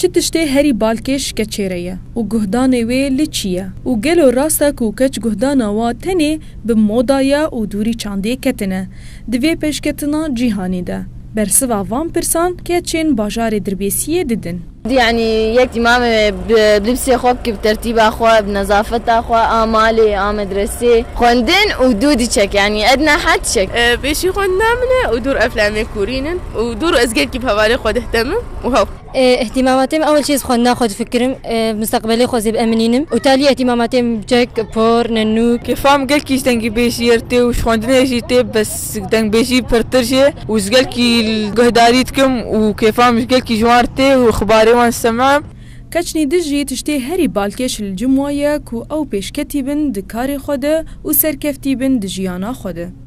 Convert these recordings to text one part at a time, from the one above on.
Çi tiştê herî balkêş keçê re ye û guhdanê wê li çi ye û gelo rast e ku keç guhdana wa tenê bi moda ye û dûrî çandê ketine? Di vê pêşketina cîhanê de bersiva van pirsan keçên bajarê Dirbêsiyê didin. Yanî yek dîmame bi libsê xwe bike, bi tertîba xwe, bi nezafeta xwe a malê a medresê. Xwendin û dû diçek yanî edna heh diçek. Pêşî xwendina min e û dûr eflemê kûrîn in û dûr ez gelkî bi hevalê xwe dihdemim. Wow. Îhtîmamatê min ewil çê ji xwendina xwe difikirim, misteqbelê xwe zê bi eminînim û ta aliyê îhtîmamatê min bi çek, por, nenûk. Kêfam gelkî ji dengîbêjiyê re tê û ji xwendinê jî tê bes dengbêjî pirtir jê û ji gelkî guhdarî dikim û kêfam ji gelkî ji wan re tê û xibarê wan disemim. Keçnî di jî tiştê herî balkêş li Cumwa ye ku ew pêşketî bin di karê xwe de û serkeftî bin di jiyana xwe de.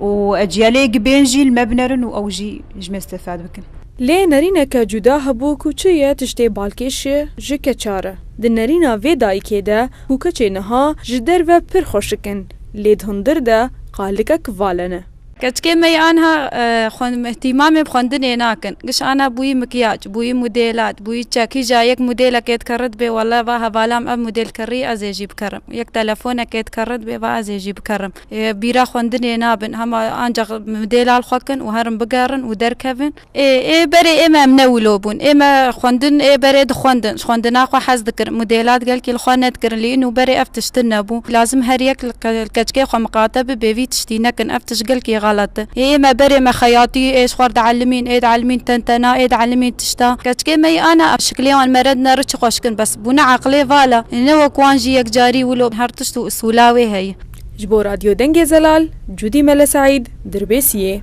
û ecîyalê gi bên jî li me binerin û ew jî ji me îstefade bikin. Lê nerîneke cuda hebû ku çi ye tiştê balkêş ye ji keça re. Di nerîna vê dayikê de ku keçê niha ji derve pir xweşik in lê di hundir de qalikek vale ne. Keçikê me yê anha îhtîmamê bi xwendinê nakin. Giş ana bûyî mikyaj, bûyî modêlat, bûyî çek. Hîja yek modêlekê dikere dibê wele va hevalam ev modêl kirî ez ê jî bikerim. Yek telefonekê dikere dibê va ez ê jî bikerim. Bîra xwendinê nabin hema ancax mdêlal xwe kin û herin bigerin û derkevin. Ê ê berê ê me em ne wilo bûn. Ê me xwendin ê berê dixwendin. Ji xwendina xwe hez dikirin. Mdêlat gelkî li xwe nedikirin. Lê îno berê ev tiştin nebû. Lazim her yek li keçkê xwe miqate bibe vî tiştî nekin. Ev tişt gelkî xelet in. Ê ê me berê me xeyatî ê ji xwer dielimîn ê dielimîn tentena ê dielimîn tişta. Keçkê me yî ana em şiklê wan mered ne riçi xweş kin bes bûne eqlê vala. Ê ne wek wan jî yekcarî wilo her tişt û usûla wê heye. Ji bo Radyo Dengê Zelal, Cudî Mele Seîd, Dirbêsiyê.